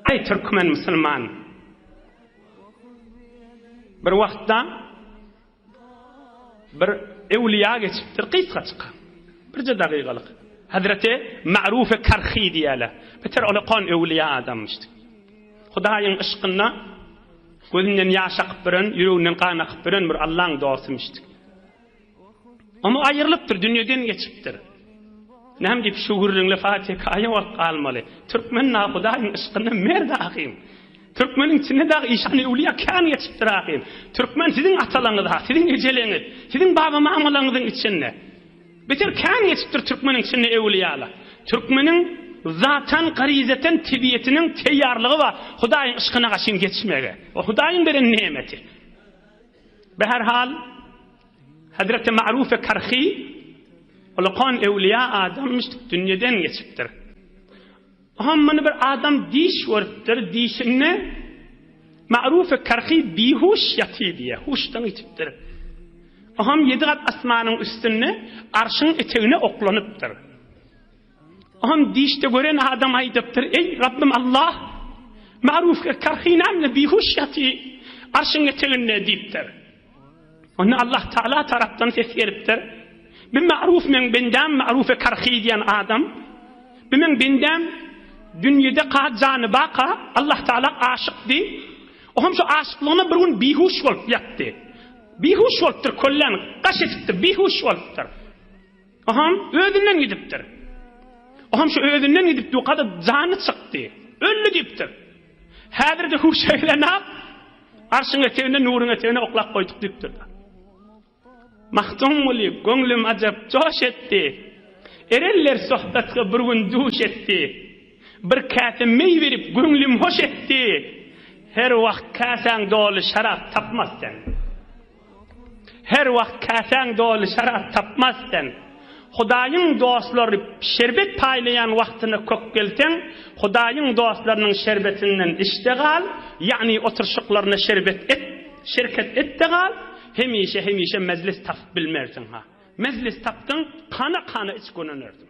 Aý türkmen musulman bir wagtda bir ewliýa geçipdir gysgaçyk birje dagygalyk Hazreti Ma'rufi Karhi diýýäler beter ol okan ewliýa adamyş Hudaýyň yşkynda gözünden ýaş akyp biren ýüreginden gan akyp biren bir Allaň dostymyş. Oňa aýrylypdyr, dünýeden geçipdir. Näme diýip şu gürrüňle Fatiha aýa bolup galmaly? Türkmen dagy Hudaýyň yşkynda merd ahym. Türkmeniň içinde dagy işan-y öwliýa kän geçipdir ahym. Türkmen siziň atalaňyz, siziň ejeleňiz, siziň baba-mamalaňyzyň içinde. Beter kän geçipdir türkmeniň içinde öwliýalar. Türkmeniň zatan, garyzatan tebiýetiniň teýýarlygy bar Hudaýyň yşkyna gaşyn geçmege. O Hudaýyň beren nemeti. Bi her hal, Hezreti Ma'rufe Karhi ulkan öwliýa adamyşdyk, dünýeden geçipdir. Oňa muny bir adam diş görüpdir, dişinde Ma'rufe Karhi bihuş ýatyr diýýär, huşdan ýitipdir. Oňam ýedi gat asmanyň üstünde Arşyň etegine oklanypdyr. On dişde gören adam aýdypdyr, Eý, Rabbym Allah! Maruf kerhinamda bihuş ýaty arşyň eteginde diýipdir. Onda Allah Taala tarapdan ses gelipdir. Bu Maruf meň bendäm Maruf kerhi diýen adam. Bu meň bendäm dünýede ka jany baka Allah Taala aşykdy. O hem şu aşyklygyna bir gün bihuş bolup ýatdy. Bihuş bolupdyr, kölläni gaş edipdir, bihuş bolupdyr. Oham özünden gidipdir. Oham şu özünden gidip ýoka-da jany çykdy. Öldi diýipdir. Häzir-de huş eglenap, Arşyň eteginde, nuruň eteginde oklap goýduk diýipdir. Magtymguly, Göňlüm ajap joş etdi. Erenler sohbetge bir gün duş etdi. Bir käse meý berip, göňlüm hoş etdi. Her wagt käsäň doly şarap tapmaz sen. Her wagt käsäň doly şarap tapmaz sen. Hudaýyň dostlary şerbet paýlaýan wagtyna kök gelseň, Hudaýyň dostlarynyň şerbetinden iç-de gal, ýagny oturyşyklaryna şerbet et, şirket et-de gal, hemişe-hemişe mejlis tapyp bilmersiň-ha. Mejlis tapdyň, kana-kana iç gönenersiň.